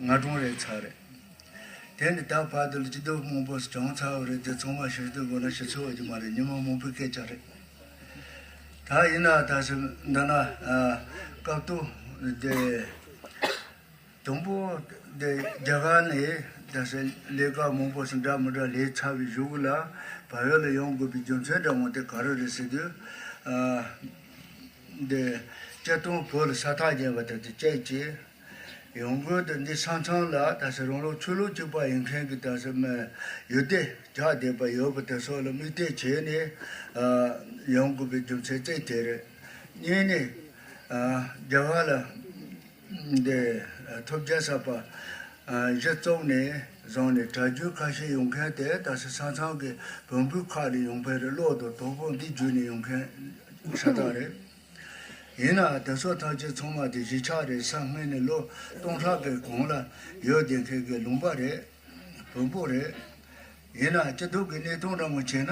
ང་སྒྲུང་རེད་ཚར་རེད། དེ་ནི་ད་བར་དུ་ལྗིད་རྡོབ་མང་པོ་བྱུང་ཚར་བ་རེད་དེ་ཚང་མ་ཞིབ་ཏུ་གོ་ན་ཤི་ཚོད་འོས་ཀྱི་མ་རེད་ཉིན་མོ་མང་པོའི་སྐད་ཆ་རེད། ད་ཡིན་ན་ད་ཞིབ་འདི་ན་སྐབས་བསྟུན་དེ། དང་པོ་དེ་རྒྱ་གར་ནས་ད་ཞིབ་ལས་ཀ་མང་པོ་ཞིག་འདྲ་མི་འདྲ་ལས་ཚར་བའི་གཞུག་ལ་བལ་ཡུལ་ལ་ཡོང་དགོས་པའི་རྒྱུ་མཚན་འདྲ་མང་དེ་ག་རེ་རེད་ཟེར་དུས། དེ། སྤྱིར་བཏང་བོད་ལ་ས་ཐག་རྒྱས་པ་དེ་དེ་སྐད་ཅེས། ཡང་སྒོས་དེ་འདི་ཆང་ཆང་ལ་ད་ཆ་རང་ལོ་ཆོས་ལུགས་གཅིག་པ་ཡིན་མཁན་གྱི་དར་ས་མའི་ཡུལ་སྡེ་བརྒྱག་བསྡད་པ་ཡོད་པ་དེ་སོགས་ལ་དམིགས་གཏད་བྱས་ནས་ཡོང་དགོས་པའི་རྒྱུ་མཚན་གཅིག་དེ་རེད། གཉིས་ནི། རྒྱ་གར་ལ་འདི་ཐོབ་རྒྱལ་ས་པ་གཞི་བཙོག་ནས་བཟུང་ནས་གྲྭ་རྒྱུན་ཁ་ཤས་ཡོང་མཁན་དེ་ད་ཆ་ཆང་ཆང་གི་བོན་པོའི་ཁག་ལས་ཡོང་མཁན་རེད་བློ་དང་དོགས་པོ་འདི་བརྒྱུད་ནས་ཡོང་མཁན་ཤ་སྟག་རེད། ཡིན་ནའང་དེ་ཚོ་ཐམས་ཅད་ཚང་མ་དེ་གཞིས་ཆགས་རེད་ས་ངྷི་ནི་ལོ་སྟོང་ཕྲག་གི་གོང་ལ་ཡོད་བསྡད་མཁན་གྱི་ལུང་པ་རེད། བོན་པོ་རེད། ཡིན་ནའང་སྐྱིད་སྡུག་གི་གནས་སྟངས་འདྲ་མོ་བྱས་ན་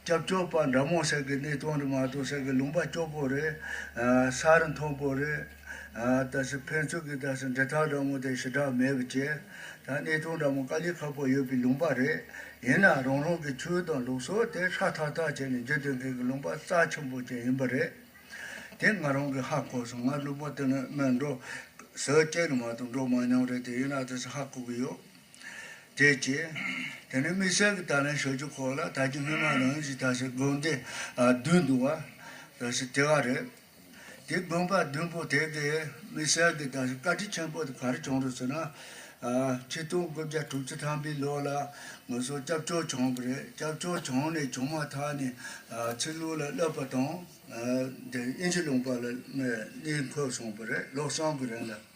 སྐྱབས་བཅོལ་པ་འདྲ་མོ་ཟེར་གི་གནས་སྟངས་རེད་མ་གཏོགས་ཟེར་གི་ལུང་པ་སྐྱོ་པོ་རེད། ས་རུ་མཐོན་པོ་རེད། ད་ཕན་ཚུན་གྱི་ད་སོ་འབྲེལ་ཐག་འདྲ་མོ་དེ་ཞི་དྲག་མེད་བཅས། དང་གནས་སྟངས་འདྲ་མོ་དཀའ་ལས་ཁག་པོ་ཡོད་པའི་ལུང་པ་རེད། ཡིན་ན་རང་རང་གི་ཆོས་དང་ལུགས་སྲོལ་དེ་ཧྲ་ཐག་ཐག་བྱས་ནས་བརྗོད་དོན་མཁན་གྱི་ལུང་པ་རྩ་ཆེན་པོ་ཅན་ཡིན་པ་རེད། དེ་ང་རང་གིས་ཧ་གོ་སོང་ང་ལུང་པ་དེ་ནི་སྨད་འགྲོ། ཟེར་སྐད་ནི་མ་གཏོགས་འགྲོ་མ་མྱོང་རེད་དེ་ཡིན་ན་དེ་ཚོ་ཧ་གོ་གི་ཡོད། དེ་བྱས། དེ་ནས་དམིགས་བསལ་གྱི་ད་ལན་ཞོལ་རྒྱུ་ཁོག་ལ་ད་ཅི་སྔོན་མ་ནང་བཞིན་ད་ཞིག་དགོན་སྡེ་བདུན་འདུག་བ། ད་ཞིག་དེ་ག་རེད། དེའི་དགོན་པ་བདུན་པོ་དེ་གའི་དམིགས་བསལ་གྱི་དག་བྱེད་བཀའ་དྲིན་ཆེན་པོ་དེ་ག་རེ་བྱུང་རེད་ཟེར་ན། ཁྲི་སྟོང་དགུ་བརྒྱ་དྲུག་ཅུ་ཐམ་པའི་ལོ་ལ་ང་ཚོ་སྐྱབས་བཅོལ་བྱུང་གི་རེད་སྐྱབས་བཅོལ་བྱུང་ནས་བྱུང་མ་ཐག་ནས་ཚིག་ལུང་ལ་བསླབ་པ་དང། དབྱིན་ཇི་ལུང་པ་ལ་གནས་འཁོད་སོང་པ་རེད་བློ་བཟང་གི་རིང་ལ།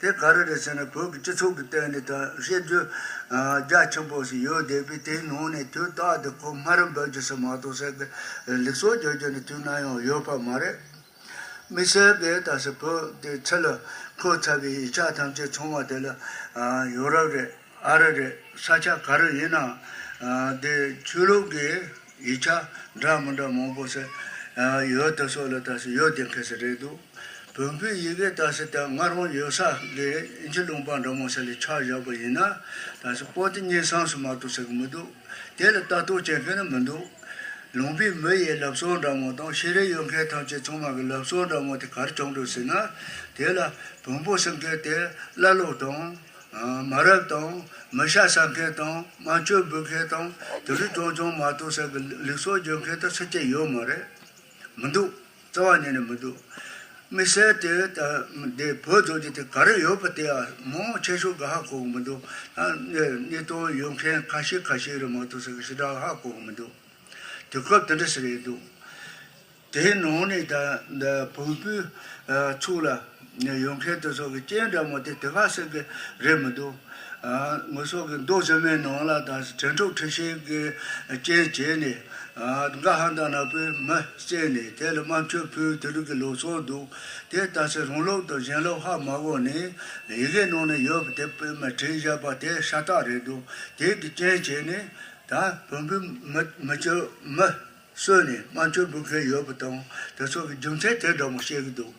དེ་ག་རེ་རེད་ཟེར་ན་བོད་ཀྱི་སྤྱི་ཚོགས་ཀྱི་སྟེང་ནས་དང་བཤད་རྒྱུ་རྒྱ་ཆེན་པོ་ཞིག་ཡོད་བསྡད་པས་དེའི་ནང་ནས་དུས་རྟགས་དེ་ཁོ་སྨ་ར་འབོད་རྒྱུ་ཟེར་མ་གཏོགས་ཟེར་གི་ལིག་སོགས་བརྗོད་རྒྱུ་ནི་དུས་ན་ཡང་ཡོད་པ་མ་རེད། མི་ཟེར་བས་ད་ཟེར་བོད་དེ་ཚེ་ལ་འཁོད་ཚར་བའི་ཡིག་ཆ་ཐམས་ཅད་ཚང་བ་དེ་ལ་ཡོ་རབ་རེད་ཨ་རི་རེད་ས་ཆ་ག་རེ་ཡིན་ནའང་དེ་ཆོས་ལུགས་ཀྱི་ཡིག་ཆ་འདྲ་མི་འདྲ་མང་པོ་ཟེར་ཡོད་དེ་སོགས་ལ་ད་ཟེར་ཡོད་བསྡད་མཁན་ཞིག་རེད་འདུག། བོན་པོའི་ཡི་གེ་བལྟ་སྲིད་དང་ང་རང་ཡོད་ས་དགེ་ཨིན་ཇི་ལུང་པ་འདྲ་མང་ས་ལས་ཕྱག་བཞག་པ་ཡིན་ན། དང་ས་པོ་ཏི་གཉེན་སངས་སུ་མ་གཏོགས་ཟེར་གི་མི་འདུག་དེ་ལ་ལྟ་རྟོག་བྱེད་མཁན་ནི་མི་འདུག། ལུང་པའི་མི་ཡི་ལབ་གསོལ་འདྲ་མང་དང་ཤེས་རིག་ཡོད་མཁན་ཐམས་ཅད་ཚང་མ་གི་ལབ་གསོལ་འདྲ་མང་དེ་གར་བྱུང་འགྲོ་སྲིད་ན། དེ་ལ་བོན་པོ་ཟེར་མཁན་དེ་ཀླ་ཀློ་དང། མ་རབས་དང། མི་ཤ་ཟ་མཁན་དང་དམངས་གཅོད་འབུལ་མཁན་དང་དེ་འདྲ་ཅུང་ཅུང་མ་གཏོགས་ས་གི་ལིག་གསོལ་རྒྱོབ་མཁན་དང་སུ་སྐྱེ་ཡོད་མ་རེད། མི་འདུག། རྩ་བ་ནས་ནི་མི་འདུག། མི་གསལ་ཏེ། དེ་བོད་རྡོ་རྗེ་དེ་ག་རེ་ཡོད་པ་དེ་མང་བོ་ཆེ་ཤོས་འགའ་ཧ་གོ་གི་མི་འདུག་ནས་རྙེད་དོན་ཡོད་མཁན་ཁ་ཤས་ཁ་ཤས་རེད་མ་གཏོགས་ཟེར་གི་ཞེ་དྲག་ཧ་གོ་གི་མི་འདུག་དུས་སྐབས་དེ་འདྲ་ཞིག་རེད་འདུག་དེའི་ནང་ནས་བོད་པའི་ཚུགས་ལ། ནས་ཡོང་མཁན་དེ་ཚོ་གི་སྐྱེས་འདྲ་མོ་དེ་དེ་ག་ཟེར་གི་རེད་མི་འདུག། ངོས་སོག་གི་མདོ་བྱེ་མའི་ནང་ལ་དང་དྲན་གྲོགས་ཁྲི་ཤེས་ཀྱི་རྐྱེན་བྱས་ནས། འགའ་ཧང་དང་ནག་པོའི་མི་བཙལ་ནས་དེ་ལ་དམར་མཆོད་ཕུལ་དེ་རིགས་ཀྱི་ལོ་ཚོགས་འདུག་དེ་ལྟ་ཚེ་རང་ལོག་དང་གཞན་ལོག་ཧ་མ་གོ་ནི། ཡི་གེ་ནང་ནས་ཡོད་པ་དེ་དཔེ་མ་བྲིས་བཞག་པ་དེ་ཤ་སྟག་རེད་འདུག་དེ་གི་རྐྱེན་བྱས་ནས། ད་བོན་པོའི་མི་མི་ཆོས་མི་གསོད་ནས་དམར་མཆོད་འབུལ་མཁན་ཡོད་པ་དང་དེ་ཚོ་གི་རྒྱུ་མཚན་དེ་འདྲ་མོ་བཤད་གི་འདུག།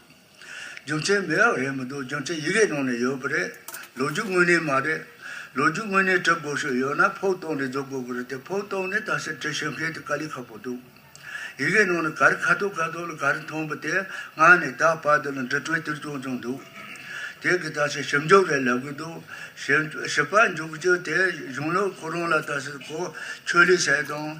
རྒྱུ་མཚན་མི་རག་རེད་མི་འདུག་རྒྱུ་མཚན་ཡི་གེ་ནང་ནས་ཡོད་པ་རེད། ལོ་རྒྱུས་དངོས་གནས་མ་རེད། ལོ་རྒྱུས་དངོས་གནས་གྲབ་དགོས་ཤོས་ཡོད་ན་ཕོག་ཐོག་ནས་བཟོ་དགོས་པ་རེད་དེ་ཕོག་ཐོག་ནས་ད་ཆ་བྲི་ཤོད་མཁན་དེ་དཀའ་ལས་ཁག་པོ་འདུག་ཡི་གེ་ནང་ནས་ག་རེ་ཁ་ཐུག་ཁ་ཐུག་ལ་ག་རེ་མཐོང་པ་དེ་སྔར་ནས་ད་བར་དུ་ལ་འབྲི་གྲོན་ཏིལ་ཙོང་ཙོང་འདུག་དེ་གི་ད་ཆ་ཞིབ་འཇུག་རེ་ལབ་གི་འདུག་ཞིབ་པ་འཇུག་བྱེད་དེ་གཞུང་ལུགས་ཁོ་རང་ལ་ད་ཆ་གོ་ཆོད་ལས་བྱེད་དང།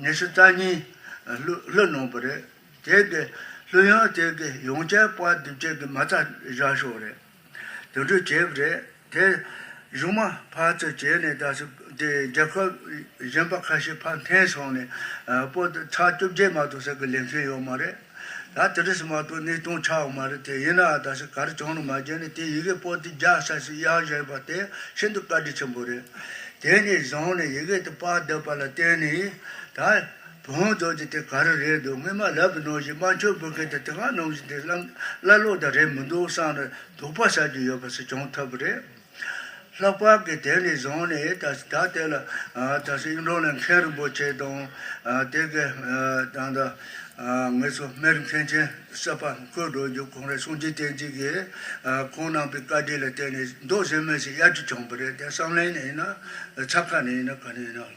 ཉི་ཤུ་རྩ་གཉིས། ལྷོད་ནོངས་པ་རེད། དེའི་དགེ། ལྷོད་ཡངས་དེའི་དགེ། ཡོངས་ཁྱད་དཔག་བསྡུ་བྱེད་ཀྱི་མ་རྩ་བཞག་ཤོག་རེད། དུད་འགྲོའི་བྱེད་པ་རེད། དེ། གཞུང་མ། ཕར་ཚུར་བྱས་ནས་ད་སུ་དེ་རྒྱལ་ཁབ། གཞན་པ་ཁ་ཤས་ཕར་འཐེན་སོང་ནས། པོ་ཏི་ཚགས་བཅོ་བརྒྱད་མ་གཏོགས་ཟེར་གི་ལེན་མཁན་ཡོད་མ་རེད། ད་དེ་འདྲ་ཞིག་མ་གཏོགས་གནས་སྟངས་ཆགས་ཡོད་མ་རེད་དེ་ཡིན་ནའང་ད་ཞིག་ག་རེ་བྱུང་ནི་མ་རྒྱལ་ནི་དེ་ཡི་གེ་པོ་ཏི་རྒྱག་ས་ཞིག་གཡག་བཞེངས་པ་དེ་ཤིན་ཏུ་བཀའ་དྲིན་ཆེན་པོ་རེད། དེ་ནས་བཟུང་ནས་ཡི་གེ་དེ་དཔར་བསྡད་པ་ལ་བརྟེན་ནས་ད། བོན་སྦྱོར་གྱི་དེ་ག་རེ་རེད་འདུག་སྔོན་མ་ལབ་པའི་ནང་བཞིན་དམར་མཆོད་འབུལ་མཁན་དེ་དེ་སྔ་ནང་བཞིན་དེ་སླར་ལོག་ད་རེད་མི་འདུག་བསམ་ནས་དོགས་པ་བྱ་རྒྱུ་ཡོད་པ་ཞིག་བྱུང་ཐུབ་རེད། ལྷག་པར་གྱི་དེ་ནས་བཟུང་ནས་ད་ལྟ་དེ་ལ་ད་གཟོད་གཡུང་དྲུང་ལས་མཁན་རིན་པོ་ཆེ་དང་དེ་གའི་དང་ཐོག་ངེད་ཚོ་མེར་མཁན་ཆེན་གསར་པ་བསྐོས་འགྲོ་རྒྱུ་གང་རེད་གསུང་རྗེས་བསྟན་འཛིན་གྱིས་ཁོང་གནང་པའི་བཀའ་དྲིན་ལ་བརྟེན་ནས་མདོ་གཟེར་མེད་ཞིག་གཡར་རྒྱུ་བྱུང་བ་རེད་དེ་བསམ་གླིང་ནས་ཡིན་ན་ཆབ་ཁ་ནས་ཡིན་ན་ག་ནས་ཡིན་ན།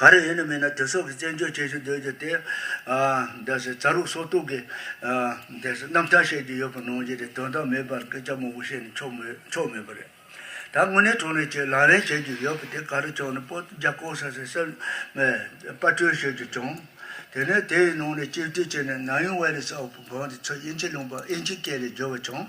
ག་རེ་ཡིན་ནི་མིན་ན་དེ་སོགས་ཀྱི་བཙན་བྱོལ་བྱེད་བཞིན་སྡོད་རྒྱུ་དེ། རྩ་རུག་སོ་གཏུག་གི་རྣམ་ཐར་བཤད་རྒྱུ་ཡོད་པ་ནང་བཞིན་རེད་དོན་དག་མེད་པར་སྐད་ཆ་མང་པོ་བཤད་ནས་ཆོག་མེད་པ་རེད། ད་དངོས་གནས་གྲོ་ནས་ཀྱི་ལག་ལེན་བྱེད་རྒྱུ་ཡོད་པ་དེ་ག་རེ་བྱུང་ནི་པོ་ཏི་རྒྱ་ཁོག་ས་སེ་སེར་མོས་པར་སྐྲུན་བྱེད་རྒྱུ་བྱུང། དེ་ནས་དེའི་ནང་ནས་སྤྱིར་བསྡུས་བྱས་ནས་ནཱ་ཡུང་ཝེ་ལི་སོགས་ཀྱི་བོན་དེ་ཚོས་དབྱིན་ཇི་ལུང་པ་ཨིན་ཇི་སྐད་ལས་བསྒྱུར་བ་བྱུང།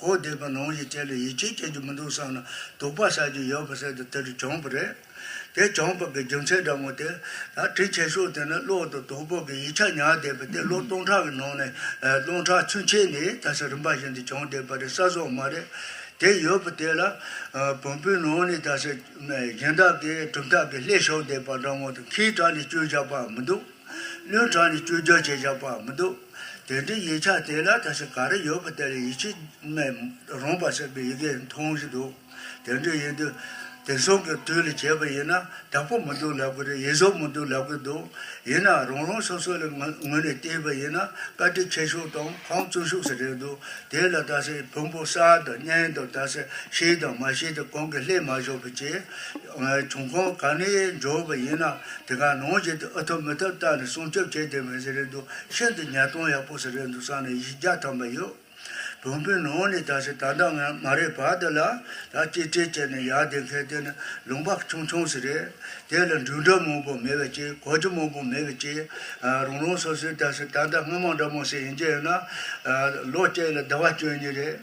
གོ་བདེ་པ་ནང་བཞིན་བྱས་ལ་ཡིད་ཆེས་བྱེད་རྒྱུ་མི་འདུག་བསམ་ན་སྡུག་པ་བྱ་རྒྱུ་ཡོད་པ་ཟེར་དུས་དེ་རུ་བྱང་བུ་རེད། དེ་བྱང་བུ་གི་རྒྱུ་མཚན་འདྲ་མོ་དེ། ད་དྲི་བྱེད་ཤོག་དེ་ནི་གློག་དང་དོག་པོ་གི་ཡིག་ཆ་ཉར་བསྡད་པས་དེ་གློག་སྟོང་ཕྲག་གི་ནང་ནས་སྟོང་ཕྲག་ཆུན་ཕྱེས་ནས་ད་ས་རིམ་པ་བཞིན་དུ་བྱང་བསྡད་པ་རེད་ས་སོག་མ་རེད། དེ་ཡོད་པ་དེ་ལ། བོང་བུའི་ནང་ནས་ད་ས་གཞན་དག་གིས་གྲུབ་མཐའ་གི་ལྷས་ཞོག་བསྡད་པ་འདྲ་མོ་དང་ཁའི་བྲག་ནས་བཅོས་བཞག་པའང་མི་འདུག། བློས་དྲངས་ནས་བཅོས་བསྒྱུར་བྱས་ཀྱང་བག་མི་འདུག། དེ་འདྲའི་ཡིག་ཆ་དེ་ལ་ད་ཆ་ག་རེ་ཡོད་པ་དེ་ལས་ཡིད་ཆེས་མེད་རུང་བར་བྱེད་པའི་ཡི་གེ་མཐོང་བཞིན་འདུག་དེ་འདྲ་ཡིན་དུས། དེང་སང་གི་དུས་ལ་བྱས་པ་ཡིན་ན་དྲག་པོ་མི་འདུག་ལབ་གི་རེད་ཡིད་བཟོ་མི་འདུག་ལབ་གི་འདུག་ཡིན་ནའང་རང་རང་སོ་སོ་ལ་ངོས་ནས་བལྟས་པ་ཡིན་ན་བཀའ་ཁྲི་ཁྱེད་ཤུགས་དང་ཁང་བཙུན་ཤུགས་སུ་རེད་འདུག་དེ་ལ་ད་ཆ་བོན་པོ་གསར་དང་གཉན་དང་ད་ཆ་ཤེས་དང་མ་ཤེས་དེ་གང་གིས་ལྷད་མ་བཞག་པའི་ཆེད། བྱུང་ཁོངས་གང་ནས་འབྱོར་བ་ཡིན་ནའང་དེ་ག་ནང་བཞིན་དུ་ཨུ་ཐུབ་མི་ཐུབ་བརྟག་ནས་སྲུང་སྐྱོབ་བྱས་ཏེ་མི་ཟེར་རེད་འདུག་ཤིན་ཏུ་ཉལ་སྟངས་ཡག་པོ་ཟེར་རེད་འདུག་བསམ་ནས་གཞི་རྒྱ་ཐམ་པ་ཡོད། བོན་པོའི་ནང་ནས་དག་ཞིག་ད་ལྟ་ང་མ་རེད་བར་དུ་ལ་ལ་གཅེས་སྤྲས་བྱས་ནས་ཡར་འདེད་མཁན་དེ་ནི་ལུང་པ་ཆུང་ཆུང་ཞིག་རེད། དེ་ལ་འགྲུལ་འགྲོ་མང་པོ་མེད་པའི་ཕྱིར་གོ་རྒྱུ་མང་པོ་མེད་པའི་ཕྱིར། རང་རང་སོ་སོའི་དག་ཞིག་ད་ལྟ་སྔོན་མ་འདྲ་མོ་ཞིག་ཡིན་གྱི་ཡོད་ན། ལོ་གཅིག་ལ་ཟླ་བ་བཅུ་གཉིས་རེད།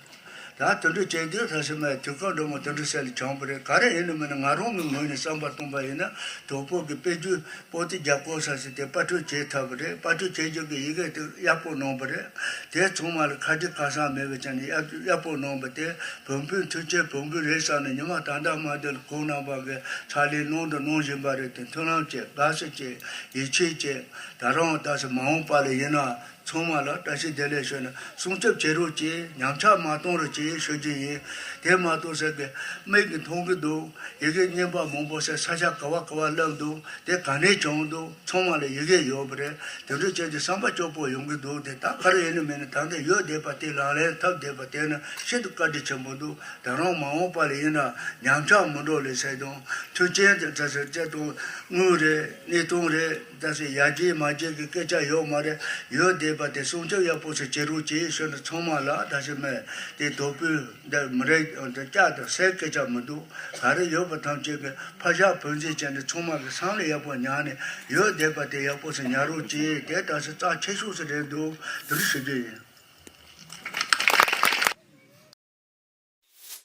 ཡང་དུད་འགྲོ་སྐྱེ་དགུའི་ལྷ་སྲིན་མ་ཡི་དུས་སྐབས་འགྲོ་མང་དུད་འགྲོ་སྲས་ལས་བྱང་བུ་རེད་ག་རེ་ཡིན་ནི་མིན་ནི་ང་རང་མིག་སྔུན་ནས་བསམ་པར་སྟོང་པ་ཡིན་ན་དོལ་པོ་གི་དཔེ་རྒྱུད་པོ་ཏི་རྒྱབ་སྐོར་ས་ཞིག་དེ་དཔར་སྐྲུན་བྱེད་ཐབས་བུ་རེད་དཔར་སྐྲུན་བྱེད་རྒྱུ་གི་ཡི་གེ་དེ་གཡར་པོ་གནང་བུ་རེད་དེ་ཚང་མ་ལ་ཁ་དྲི་ཁ་སང་མེད་བའི་ཆ་ནས་གཡར་པོ་གནང་བུ་དེ་བོན་པོའི་མཐུ་ཆེན་བོན་པོའི་རེད་བསམ་ནས་ཉི་མ་ད་ལྟ་མ་དེ་ལ་གུང་རྣམ་པ་འགའི་ཕྱག་ལས་ནང་དུ་གནང་བཞིན་པ་རེད་དེ་མཐུན་ལམ་བཅས་དགའ་བསུ་བཅས་ཡིད་ཆེས་བཅས་ད་རུང་ད་སོ་མ་འོངས་པ་ལ་ཡིན་ན་ཚང་མ་ལ་བཀྲ་ཤིས་བདེ་ལེགས་ཞུ་ནས་སྲུང་སྐྱོབ་བྱེད་རོགས་ཀྱིས་ཉམས་ཆག་མ་གཏོང་རོགས་ཀྱིས་ཞུ་རྒྱུ་ཡིན། དེ་མ་གཏོགས་ཟེར་དགོས་དམིགས་གི་མཐོང་གི་འདུག་ཡི་གེ་རྙིང་པ་མང་པོ་ཟེར་ས་ཆ་ག་བ་ག་བ་བསླབས་འདུག་དེ་ག་ནས་བྱུང་འདུག་ཚང་མ་ལ་ཡི་གེ་ཡོད་པ་རེད་དེ་འདྲུ་བྱེད་ཀྱི་བསམ་པ་སྐྱོ་པོ་ཡོང་གི་འདུག་དེ་ད་ག་རེ་ཡིན་ནི་མིན་ནི་ད་ལྟ་ཡོད་བསྡད་པ་དེ་ལག་ལེན་ཐབས་བསྡད་པ་དེ་ནི་ཤིན་ཏུ་བཀའ་དྲིན་ཆེན་པོ་འདུག་དང་རང་མ་འོངས་པ་ལ་ཡིན་ན་ཉམས་ཆག་མི་འགྲོ་ལེ་ཟེར་དང་མཐུན་རྐྱེན་དེ་ད་ཟེར་བཅད་དང་དངུལ་རེད་གནས་སྟངས་རེད། ད་ཟེར་ཡ་ཀྱེ་མ་ཀྱེ་གི་སྐད་ཆ་ཡོད་མ་རེད། ཡོད་བསྡད་པ་དེ་སྲུང་སྐྱོབ་ཡག་པོ་ཞིག་བྱེད་རོགས་ཅེས་ཞུས་ན་ཚང་མ་ལ་ད་ཞིག་མེད་དེ་དོ་པུས་འདི་མི་རེ་འདི་སྐྱ་དང་སའི་སྐད་ཆ་མི་འདུག་ག་རེ་ཡོད་པ་ཐམས་ཅད་ཀྱི་ཕ་ཤ་བུ་འཛིན་བྱས་ནས་ཚང་མ་གི་སང་ལ་ཡག་པོ་ཉར་ནས་ཡོད་བསྡད་པ་དེ་ཡག་པོ་ཞིག་ཉར་རོགས་ཅེས་དེ་ད་ཟེར་རྩ་ཆེ་ཤོས་ཞིག་རེད་འདུག་དེ་འདྲ་ཞུ་རྒྱུ་ཡིན།